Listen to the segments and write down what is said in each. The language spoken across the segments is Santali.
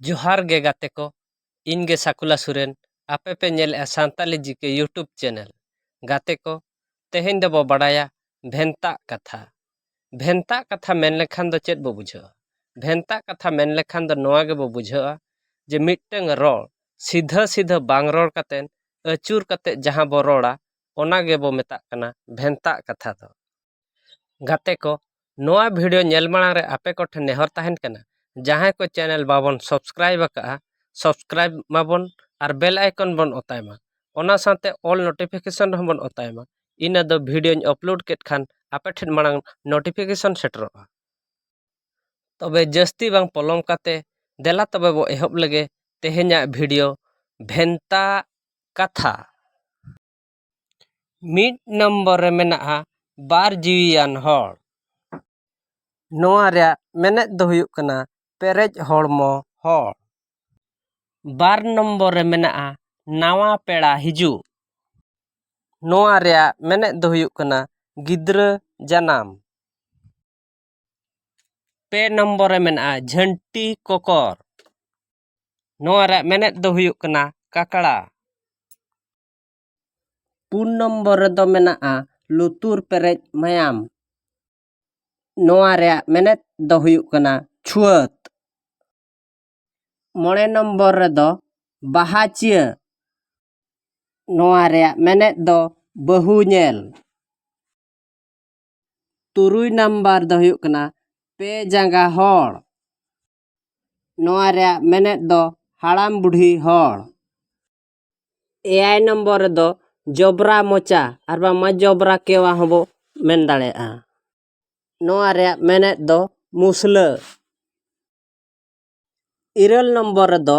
ᱡᱚᱦᱟᱨ ᱜᱮ ᱜᱟᱛᱮ ᱠᱚ ᱤᱧ ᱜᱮ ᱥᱟᱠᱩᱞᱟ ᱥᱚᱨᱮᱱ ᱟᱯᱮ ᱯᱮ ᱧᱮᱞᱮᱜᱼᱟ Santali G K YouTube channel ᱜᱟᱛᱮ ᱠᱚ ᱛᱮᱦᱮᱧ ᱫᱚᱵᱚ ᱵᱟᱰᱟᱭᱟ ᱵᱷᱮᱱᱛᱟᱜ ᱠᱟᱛᱷᱟ ᱵᱷᱮᱱᱛᱟᱜ ᱠᱟᱛᱷᱟ ᱢᱮᱱ ᱞᱮᱠᱷᱟᱱ ᱫᱚ ᱪᱮᱫ ᱵᱚ ᱵᱩᱡᱷᱟᱹᱣᱟ ᱵᱷᱮᱱᱛᱟᱜ ᱠᱟᱛᱷᱟ ᱢᱮᱱ ᱞᱮᱠᱷᱟᱱ ᱫᱚ ᱱᱚᱣᱟ ᱜᱮᱵᱚ ᱵᱩᱡᱷᱟᱹᱣᱟ ᱡᱮ ᱢᱤᱫᱴᱟᱹᱝ ᱨᱚᱲ ᱥᱤᱫᱷᱟᱹ ᱥᱤᱫᱷᱟᱹ ᱵᱟᱝ ᱨᱚᱲ ᱠᱟᱛᱮ ᱟᱹᱪᱩᱨ ᱠᱟᱛᱮ ᱡᱟᱦᱟᱸ ᱵᱚ ᱨᱚᱲᱟ ᱚᱱᱟ ᱜᱮᱵᱚ ᱢᱮᱛᱟᱜ ᱠᱟᱱᱟ ᱵᱷᱮᱱᱛᱟᱜ ᱠᱟᱛᱷᱟ ᱫᱚ ᱜᱟᱛᱮ ᱠᱚ ᱱᱚᱣᱟ ᱵᱷᱤᱰᱤᱭᱳ ᱧᱮᱞ ᱢᱟᱲᱟᱝ ᱨᱮ ᱟᱯᱮ ᱠᱚᱴᱷᱮᱱ ᱱᱮᱦᱚᱨ ᱛᱟᱦᱮᱱ ᱠᱟᱱᱟ ᱡᱟᱦᱟᱸᱭ ᱠᱚ ᱪᱮᱱᱮᱞ ᱵᱟᱵᱚᱱ ᱥᱟᱵᱥᱠᱨᱟᱭᱤᱵᱽ ᱟᱠᱟᱫᱼᱟ ᱥᱟᱵᱥᱠᱨᱟᱭᱤᱵᱽ ᱢᱟᱵᱚᱱ ᱟᱨ ᱵᱮᱞ ᱟᱭᱠᱚᱱ ᱵᱚᱱ ᱚᱛᱟᱭ ᱢᱟ ᱚᱱᱟ ᱥᱟᱶᱛᱮ ᱚᱞ ᱱᱳᱴᱤᱯᱷᱤᱠᱮᱥᱚᱱ ᱨᱮᱦᱚᱸ ᱵᱚᱱ ᱚᱛᱟᱭ ᱢᱟ ᱤᱱᱟᱹ ᱫᱚ ᱵᱷᱤᱰᱤᱭᱳᱧ ᱟᱯᱞᱳᱰ ᱠᱮᱫ ᱠᱷᱟᱱ ᱟᱯᱮ ᱴᱷᱮᱱ ᱢᱟᱲᱟᱝ ᱱᱳᱴᱤᱯᱷᱤᱠᱮᱥᱚᱱ ᱥᱮᱴᱮᱨᱚᱜᱼᱟ ᱛᱚᱵᱮ ᱡᱟᱹᱥᱛᱤ ᱵᱟᱝ ᱯᱚᱞᱚᱢ ᱠᱟᱛᱮ ᱫᱮᱞᱟ ᱛᱚᱵᱮ ᱵᱚ ᱮᱦᱚᱵ ᱞᱮᱜᱮ ᱛᱮᱦᱮᱧᱟᱜ ᱵᱷᱤᱰᱤᱭᱳ ᱵᱷᱮᱱᱛᱟ ᱠᱟᱛᱷᱟ ᱢᱤᱫ ᱱᱚᱢᱵᱚᱨ ᱨᱮ ᱢᱮᱱᱟᱜᱼᱟ ᱵᱟᱨ ᱡᱤᱣᱤᱭᱟᱱ ᱦᱚᱲ ᱱᱚᱣᱟ ᱨᱮᱭᱟᱜ ᱢᱮᱱᱮᱫ ᱫᱚ ᱦᱩᱭᱩᱜ ᱠᱟᱱᱟ ᱯᱮᱨᱮᱡ ᱦᱚᱲᱢᱚ ᱦᱚᱲ ᱵᱟᱨ ᱱᱚᱢᱵᱚᱨ ᱨᱮ ᱢᱮᱱᱟᱜᱼᱟ ᱱᱟᱣᱟ ᱯᱮᱲᱟ ᱦᱤᱡᱩᱜ ᱱᱚᱣᱟ ᱨᱮᱭᱟᱜ ᱢᱮᱱᱮᱫ ᱫᱚ ᱦᱩᱭᱩᱜ ᱠᱟᱱᱟ ᱜᱤᱫᱽᱨᱟᱹ ᱡᱟᱱᱟᱢ ᱯᱮ ᱱᱚᱢᱵᱚᱨ ᱨᱮ ᱢᱮᱱᱟᱜᱼᱟ ᱡᱷᱟᱹᱱᱴᱤ ᱠᱚᱠᱚᱨ ᱱᱚᱣᱟ ᱨᱮᱭᱟᱜ ᱢᱮᱱᱮᱫ ᱫᱚ ᱦᱩᱭᱩᱜ ᱠᱟᱱᱟ ᱠᱟᱠᱲᱟ ᱯᱩᱱ ᱱᱚᱢᱵᱚᱨ ᱨᱮᱫᱚ ᱢᱮᱱᱟᱜᱼᱟ ᱞᱩᱛᱩᱨ ᱯᱮᱨᱮᱡ ᱢᱟᱭᱟᱢ ᱱᱚᱣᱟ ᱨᱮᱭᱟᱜ ᱢᱮᱱᱮᱛ ᱫᱚ ᱦᱩᱭᱩᱜ ᱠᱟᱱᱟ ᱪᱷᱩᱣᱟᱹᱛ ᱢᱚᱬᱮ ᱱᱚᱢᱵᱚᱨ ᱨᱮᱫᱚ ᱵᱟᱦᱟᱪᱤᱭᱟᱹ ᱱᱚᱣᱟ ᱨᱮᱭᱟᱜ ᱢᱮᱱᱮᱛ ᱫᱚ ᱵᱟᱹᱦᱩ ᱧᱮᱞ ᱛᱩᱨᱩᱭ ᱱᱟᱢᱵᱟᱨ ᱫᱚ ᱦᱩᱭᱩᱜ ᱠᱟᱱᱟ ᱯᱮ ᱡᱟᱸᱜᱟ ᱦᱚᱲ ᱱᱚᱣᱟ ᱨᱮᱭᱟᱜ ᱢᱮᱱᱮᱛ ᱫᱚ ᱦᱟᱲᱟᱢ ᱵᱩᱰᱷᱤ ᱦᱚᱲ ᱮᱭᱟᱭ ᱱᱚᱢᱵᱚᱨ ᱨᱮᱫᱚ ᱡᱚᱵᱽᱨᱟ ᱢᱚᱪᱟ ᱟᱨ ᱵᱟᱝᱢᱟ ᱡᱚᱵᱽᱨᱟ ᱠᱮᱣᱟ ᱦᱚᱸᱵᱚ ᱢᱮᱱ ᱫᱟᱲᱮᱭᱟᱜᱼᱟ ᱱᱚᱣᱟ ᱨᱮᱭᱟᱜ ᱢᱮᱱᱮᱫ ᱫᱚ ᱢᱩᱥᱞᱟᱹ ᱤᱨᱟᱹᱞ ᱱᱚᱢᱵᱚᱨ ᱨᱮᱫᱚ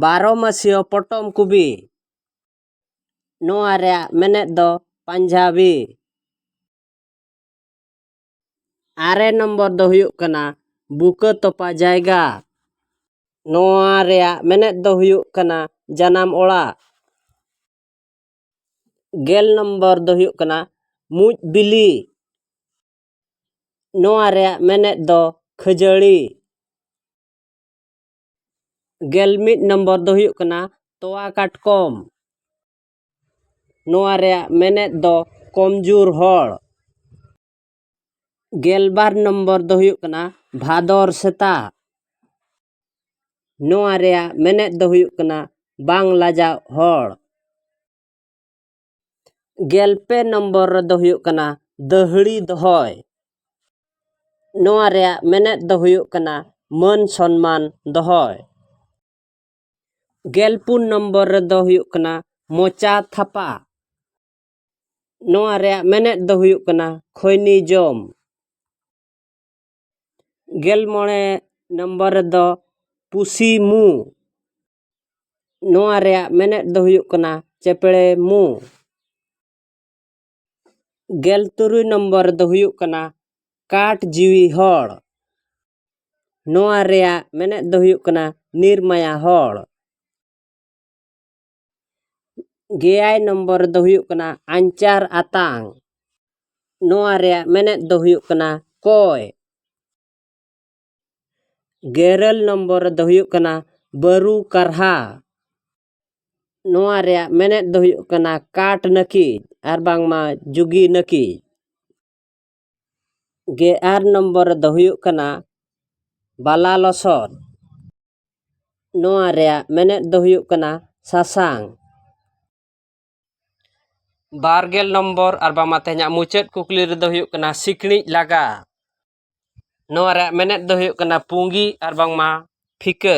ᱵᱟᱨᱚ ᱢᱟᱹᱥᱤᱭᱟᱹ ᱯᱚᱴᱚᱢ ᱠᱚᱵᱤ ᱱᱚᱣᱟ ᱨᱮᱭᱟᱜ ᱢᱮᱱᱮᱫ ᱫᱚ ᱯᱟᱧᱡᱟᱵᱤ ᱟᱨᱮ ᱱᱚᱢᱵᱚᱨ ᱫᱚ ᱦᱩᱭᱩᱜ ᱠᱟᱱᱟ ᱵᱩᱠᱟᱹ ᱛᱚᱯᱟ ᱡᱟᱭᱜᱟ ᱱᱚᱣᱟ ᱨᱮᱭᱟᱜ ᱢᱮᱱᱮᱫ ᱫᱚ ᱦᱩᱭᱩᱜ ᱠᱟᱱᱟ ᱡᱟᱱᱟᱢ ᱚᱲᱟᱜ ᱜᱮᱞ ᱱᱚᱢᱵᱚᱨ ᱫᱚ ᱦᱩᱭᱩᱜ ᱠᱟᱱᱟ ᱢᱩᱡ ᱵᱤᱞᱤ ᱱᱚᱣᱟ ᱨᱮᱭᱟᱜ ᱢᱮᱱᱮᱫ ᱫᱚ ᱠᱷᱟᱹᱡᱟᱹᱲᱤ ᱜᱮᱞ ᱢᱤᱫ ᱱᱚᱢᱵᱚᱨ ᱫᱚ ᱦᱩᱭᱩᱜ ᱠᱟᱱᱟ ᱛᱚᱣᱟ ᱠᱟᱴᱠᱚᱢ ᱱᱚᱣᱟ ᱨᱮᱭᱟᱜ ᱢᱮᱱᱮᱛ ᱫᱚ ᱠᱚᱢᱡᱳᱨ ᱦᱚᱲ ᱜᱮᱞᱵᱟᱨ ᱱᱚᱢᱵᱚᱨ ᱫᱚ ᱦᱩᱭᱩᱜ ᱠᱟᱱᱟ ᱵᱷᱟᱫᱚᱨ ᱥᱮᱛᱟ ᱱᱚᱣᱟ ᱨᱮᱭᱟᱜ ᱢᱮᱱᱮᱛ ᱫᱚ ᱦᱩᱭᱩᱜ ᱠᱟᱱᱟ ᱵᱟᱝ ᱞᱟᱡᱟᱣ ᱦᱚᱲ ᱜᱮᱞᱯᱮ ᱱᱚᱢᱵᱚᱨ ᱨᱮᱫᱚ ᱦᱩᱭᱩᱜ ᱠᱟᱱᱟ ᱫᱟᱹᱦᱲᱤ ᱫᱚᱦᱚᱭ ᱱᱚᱣᱟ ᱨᱮᱭᱟᱜ ᱢᱮᱱᱮᱛ ᱫᱚ ᱦᱩᱭᱩᱜ ᱠᱟᱱᱟ ᱢᱟᱹᱱ ᱥᱚᱱᱢᱟᱱ ᱫᱚᱦᱚᱭ ᱜᱮᱞᱯᱩᱱ ᱱᱚᱢᱵᱚᱨ ᱨᱮᱫᱚ ᱦᱩᱭᱩᱜ ᱠᱟᱱᱟ ᱢᱚᱪᱟ ᱛᱷᱟᱯᱟ ᱱᱚᱣᱟ ᱨᱮᱭᱟᱜ ᱢᱮᱱᱮᱫ ᱫᱚ ᱦᱩᱭᱩᱜ ᱠᱟᱱᱟ ᱠᱷᱚᱭᱱᱤ ᱡᱚᱢ ᱜᱮᱞ ᱢᱚᱬᱮ ᱱᱚᱢᱵᱚᱨ ᱨᱮᱫᱚ ᱯᱩᱥᱤ ᱢᱩ ᱱᱚᱣᱟ ᱨᱮᱭᱟᱜ ᱢᱮᱱᱮᱫ ᱫᱚ ᱦᱩᱭᱩᱜ ᱠᱟᱱᱟ ᱪᱮᱯᱲᱮ ᱢᱩ ᱜᱮᱞ ᱛᱩᱨᱩᱭ ᱱᱚᱢᱵᱚᱨ ᱨᱮᱫᱚ ᱦᱩᱭᱩᱜ ᱠᱟᱱᱟ ᱠᱟᱴ ᱡᱤᱣᱤ ᱦᱚᱲ ᱱᱚᱣᱟ ᱨᱮᱭᱟᱜ ᱢᱮᱱᱮᱫ ᱫᱚ ᱦᱩᱭᱩᱜ ᱠᱟᱱᱟ ᱱᱤᱨᱢᱟᱭᱟ ᱦᱚᱲ ᱜᱮᱭᱟᱭ ᱱᱚᱢᱵᱚᱨ ᱫᱚ ᱦᱩᱭᱩᱜ ᱠᱟᱱᱟ ᱟᱧᱪᱟᱨ ᱟᱛᱟᱝ ᱱᱚᱣᱟ ᱨᱮᱭᱟᱜ ᱢᱮᱱᱮᱫ ᱫᱚ ᱦᱩᱭᱩᱜ ᱠᱟᱱᱟ ᱠᱚᱭ ᱜᱮᱨᱟᱹᱞ ᱱᱚᱢᱵᱚᱨ ᱫᱚ ᱦᱩᱭᱩᱜ ᱠᱟᱱᱟ ᱵᱟᱹᱨᱩ ᱠᱟᱨᱦᱟ ᱱᱚᱣᱟ ᱨᱮᱭᱟᱜ ᱢᱮᱱᱮᱫ ᱫᱚ ᱦᱩᱭᱩᱜ ᱠᱟᱱᱟ ᱠᱟᱴ ᱱᱟᱹᱠᱤᱡ ᱟᱨ ᱵᱟᱝᱢᱟ ᱡᱩᱜᱤ ᱱᱟᱹᱠᱤᱡ ᱜᱮ ᱟᱨ ᱱᱚᱢᱵᱚᱨ ᱨᱮᱫᱚ ᱦᱩᱭᱩᱜ ᱠᱟᱱᱟ ᱵᱟᱞᱟ ᱞᱚᱥᱚᱫ ᱱᱚᱣᱟ ᱨᱮᱭᱟᱜ ᱢᱮᱱᱮᱫ ᱫᱚ ᱦᱩᱭᱩᱜ ᱠᱟᱱᱟ ᱥᱟᱥᱟᱝ ᱵᱟᱨ ᱜᱮᱞ ᱱᱚᱢᱵᱚᱨ ᱟᱨ ᱵᱟᱝᱢᱟ ᱛᱮᱦᱮᱧᱟᱜ ᱢᱩᱪᱟᱹᱫ ᱠᱩᱠᱞᱤ ᱨᱮᱫᱚ ᱦᱩᱭᱩᱜ ᱠᱟᱱᱟ ᱥᱤᱠᱬᱤᱡ ᱞᱟᱜᱟ ᱱᱚᱣᱟ ᱨᱮᱭᱟᱜ ᱢᱮᱱᱮᱫ ᱫᱚ ᱦᱩᱭᱩᱜ ᱠᱟᱱᱟ ᱯᱩᱸᱜᱤ ᱟᱨ ᱵᱟᱝᱢᱟ ᱯᱷᱤᱠᱟᱹ